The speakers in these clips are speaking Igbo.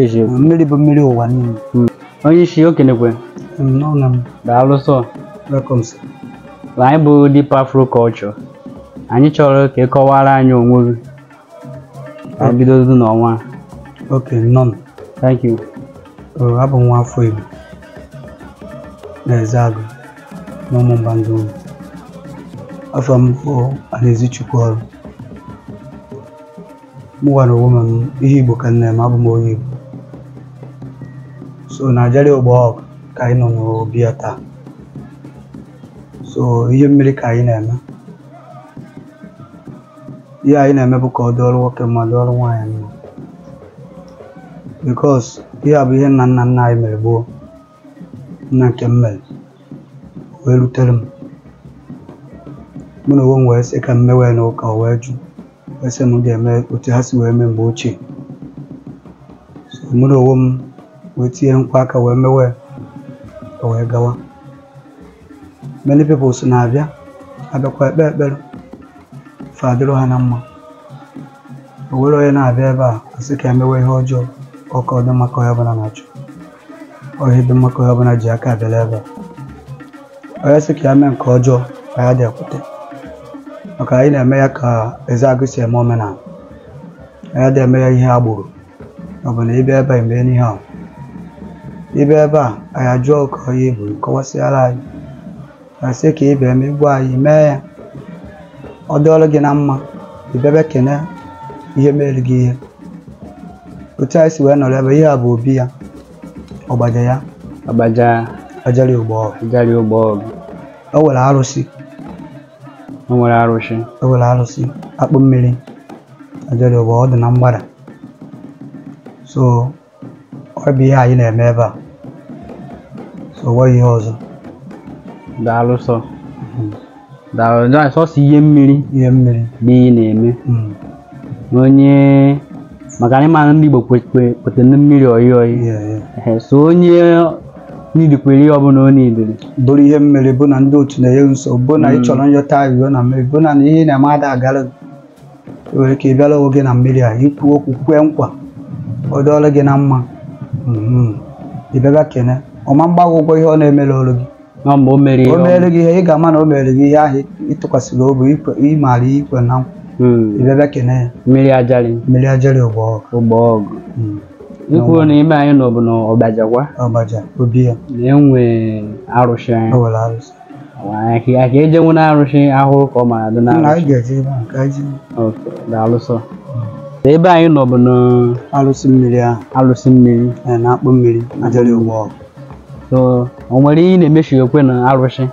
eziokwu mmiri bụ mmiri ụwa niile Mm. onye isi okenekwe n'ụlọ m daalụ sọ welcome sir. na anyị bụ Deep Afro Culture anyị chọrọ ka ị kọwara anyị onwe gị ka anyị bidodu n'ọnwa okay nọ m thank you Ee, abụ m nwa afọ Igbo na Ezeagụ na Ụmụmba Ndiụnọ afa m bụ Anaezichukwu ọrụ mụwa na onwe m ihe Igbo ka m na-eme abụ m onye Igbo so na Ajali ogbo ọgụ ka anyị nọ n'obi ya taa so ihe mmiri ka anyị na-eme ihe anyị na-eme bụ ka ọ dịọrụ nwoke mma dịọrụ nwaanyị mma because ihe a bụ ihe nna nna nna anyị mere gboo nna nke m mere wee rutere m mụ na onwe m wee sị ka m mewenụ ụka o wee jụ wee sị m ga-eme otu ha si wee mee mgbe ochie so mụ na onwe m wee tinyekwa aka wee mewe o wee gawa many people so na-abịa abịakwa ekpe ekpere fa adịrị ha na mma o were onye na-abịa ebe a asị ka e mewe ihe ọjọọ ọ ka ọ dị mma ka onye ọbụla na-achọ ọ ihe dị mma ka onye ọbụla ji aka abịala ebe a onye sị ka ya mee nke ọjọọ anyị ada ekwete maka anyị na-eme ya ka Ezeagụ si eme omenala anyị ada eme ya ihe agbọrọ ọ bụ na ị bịa ebe a emee n'ihe ahụ ị bịa ebe a anyị ajụọ ka onye bụ kọwasịara anyị asị ka ị bịa megbuo anyị mee ya ọ dịọrọ gị na mma ị bịaba kene ihe mere gị ihe otu anyị si wee nọrọ ebe ihe a bụ obi ya ọgbaja ya ọgbaja Ajali ụgbọ ọgụ Ajali ụgbọ ọgụ o nwere arụsị o nwere arụsị o nwere arụsị a kpọ mmiri Ajali ụgbọ ọ dị na mgbada so ọ bụ ihe anyị na-eme ebe a so o nweghị ihe ọzọ daalụ sọ daalụ daalụ sọsọ ihe mmiri ihe mmiri bụ ihe ị na-eme Mm, onye maka na ị mara ndị Igbo kwetara na mmiri oyi oyi yeah, yeah. Ehe, so onye nidikwere ihe ọbụla ọ nidiri bụrụ ihe mmiri bụ na ndị otu na-enye nsogbu bụ na ị chọrọ ịyọta ayịyọ na mmiri bụ na ihe ị na-eme ada agara gị. ị nwere ike ịbịala onwe gị na mmiri a i kwuo okwu kwee nkwa ọ dịọlọ gị na mma Mhm. ị bịaba kene ọ ma mgba gị ụgwọ ihe ọ na-emere olu gị nọ mgbe o mere ihe o ọma. meere gị ihe ị ga-ama na o meere gị ihe ahụ ị tụkwasịrị obi ikwe- ị mara i kwena nkwa Mm. ị bịaba kene ya mmiri Ajali mmiri Ajali ụgbọ ọgụ ụgbọ ọgụ Mm. i kwuru na ime anyị nọ bụ na ọgbajagwa ọgbaja obi ya na enwe arụsị anyị o were arụsị ahịa ka eje nwere arụsị ahụrụ ka ọ mara dị na anyị ga-eje ebe ahụ ka anyị ji okay daalụ sọ ebe anyị nọ bụ na arụsị mmiri ahụ arụsị mmiri ee, na-akpọ mmiri Ajali ụgbọ ọgụ so o nwere ihe ị na-emechikwa na arụsị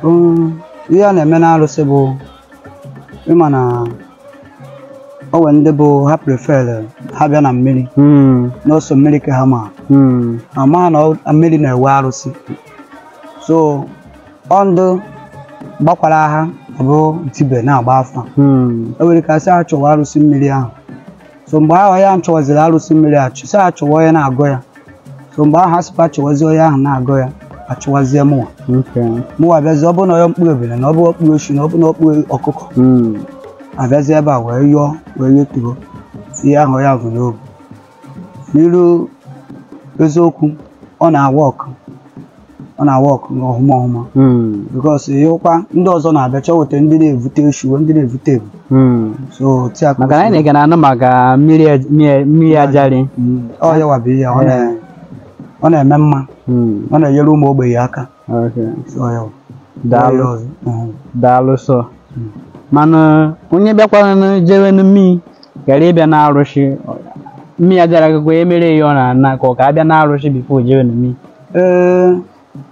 Mm, ihe a na-eme n'arụsị bụ ịma na o nwere ndị bụ ha prefere ha bịa na mmiri Mm, n'ụsọ mmiri ka ha ma mm, ma ma na ọ- mmiri na-enwe arụsị so ọ ndị gbakwara aha ọ bụ dibịa na-agba afa Hmm. o nwere ike a sị achọwa arụsị mmiri ahụ so mgbe ahụ ya chọwaziri arụsị mmiri ahụ a sị achọwa onye na-agọ ya so mgbe ahụ ha sịkwa achọwazi onye ahụ na-agọ ya achọwazie mụwa Okay. mụwa abịazi ọ bụ na onye kpụrụ ebule na ọ bụ ọ kpụrụ eshi na ọ bụ na ọ kpụrụ ọkụkọ Hmm. abịazi ebe a wee yọọ wee yọtụọ ihe ahụ ya bu n'obi n'iru eziokwu ọ na-awork ọ na-awork ọhụma ọhụma Mm. because ịhụkwa ndị ọzọ na-abịa chọweta ndị na-evute eshu ndị na-evute ewu Mm. so otu a ka maka na anyị na-ege na-anụ maka mmiri ej- mmiri- mmiri Ajali ọ yawa bụ ihe ọ na- ọ na-eme mma Mm. ọ na-enyere ụmụ ogbenye aka Okay. Ọ ya bụ. Daalụ. Ọya ọzọ. Mhm. daalụ sọ mana onye bịakwaranụ jewe na mmiri karịa ịbịa na arụsị mmiri Ajali agụgụ ya mere ya ọ na-ana ka ọ ga-abịa na arụsị before jewe na mmiri Ee,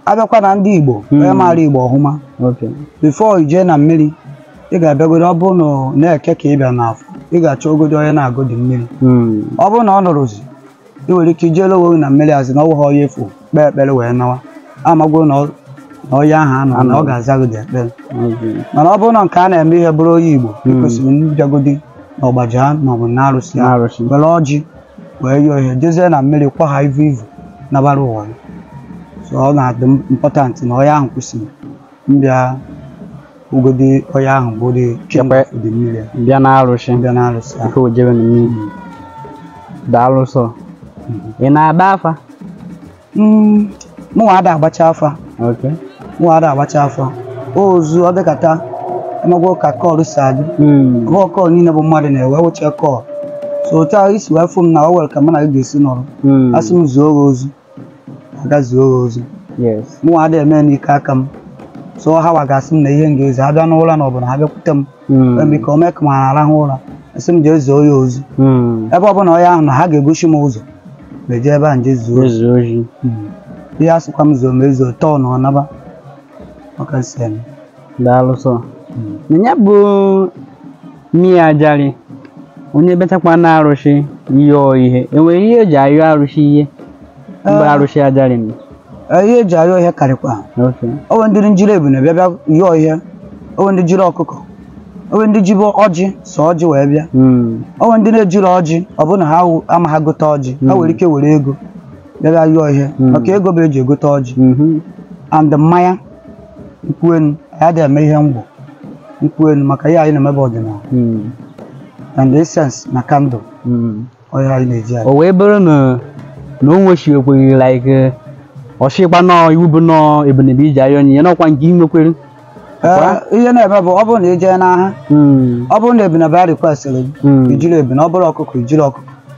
abịakwa na ndị Igbo Mm. onye maara Igbo ọhụma okay. before i jee na mmiri ị ga-abịagodi ọ bụrụ na ọ n'eke ka ị bịa n'afọ ị ga-achọgodi onye na-agọdị mmiri mm. ọ bụrụ na ọ nọrọzi ị nwere ike ijere onwe gị na mmiri a sị na ọ wụghị onye afụ kpee ekpere wee nawa amagwo na ọ- na onye ahụ anọ na ọ ga-azagodi ekpere mana ọ bụrụ na nke a na-eme ihe bụrụ onye Igbo ị kwesịrị mbịagodi na ọgbaja maọbụ na arụsị ahụ N'arụsị. were ọjị wee yọọ ihe jezie na mmiri kwa ha ivu ivu nabara onwe ya. so ọ na-adị important na onye ahụ kwesịrị mbịagodi onye ahụ bụ dị Chekwa. dị mmiri bịa na arụsị mbịa na arụsị ahụ nke o jebe na mmiri daalụ sọ ị na-agba afa Mm, mụnwa ada agbacha afa okay mụnwa ada agbacha afa ozi ọ dịkata ị magwo ka call si adị Mm. ọ bụghọ call niile bụ mmadụ na-enwe wụcha call so otu ahụ i si wee fụ m na o nwere ka mụ na gị ga-esi nọrọ Mm. a sị m zuo gị ozi aga zuo gị ozi yes mụnwa ada eme n'ike aka m so hawa ga-asị m na ihe m ga-ezi ha abịa n'ụra na ọ bụ na ha bịakwute m Mm. eme ka o mee ka m na-arahụ ụra a sị m jee zuo ya ozi Mm. ebe ọbụla onye ahụ nọ ha ga-egosi m ụzọ m eje ebe a m jee zuo ozi Zuo ozi. Mm. ihe a sịkwa m zuo m ezuo tọọ na ọ naba ọ ka m si eme daalụ sọ na ya bụ mmiri ajarị onye batakwa na arụsị yọọ ihe enwere ihe eji ayọ arụsị ihe mgbe Ah. arụsị ajarị m Ee, ihe eji ayọ ihe karịkwa o nwe ndị jiri ebune bịa bịa yọọ ihe o nwe ndị jiri ọkụkọ o nwe ndị jibe ọjị sọ ọjị wee bịa Mm, o nwe ndị na-ejiri ọjị ọ bụrụ na ha wụ- amaghị gote ọjị ha nwere ike were ego bịa bịa yọọ ihe Mm. maka ego bụ eji egote ọjị mhm, and mmanya nkwụ enu anyị adịghị eme ihe ngwọ nkwụ enu maka ihe anyị na-eme bụ ọdịnala Mm, and incense na candle mm. ọ ya anyị na-eji anyị o wee bụrụ na na o nwechakwaghị like eh, ọ sịkwa na ọ iwu bụ na ọ ebune bụ iji ayọ onyinye n'ọkwa nke ị nwekwere Ee, ihe na-eme bụ ọ bụrụ na ị jee n'aha Mm, ọ bụrụ na ebune bụ a requestịrị gị mm. ijiri ebune ọ bụrụ ọkụkọ ijiri ọkụkọ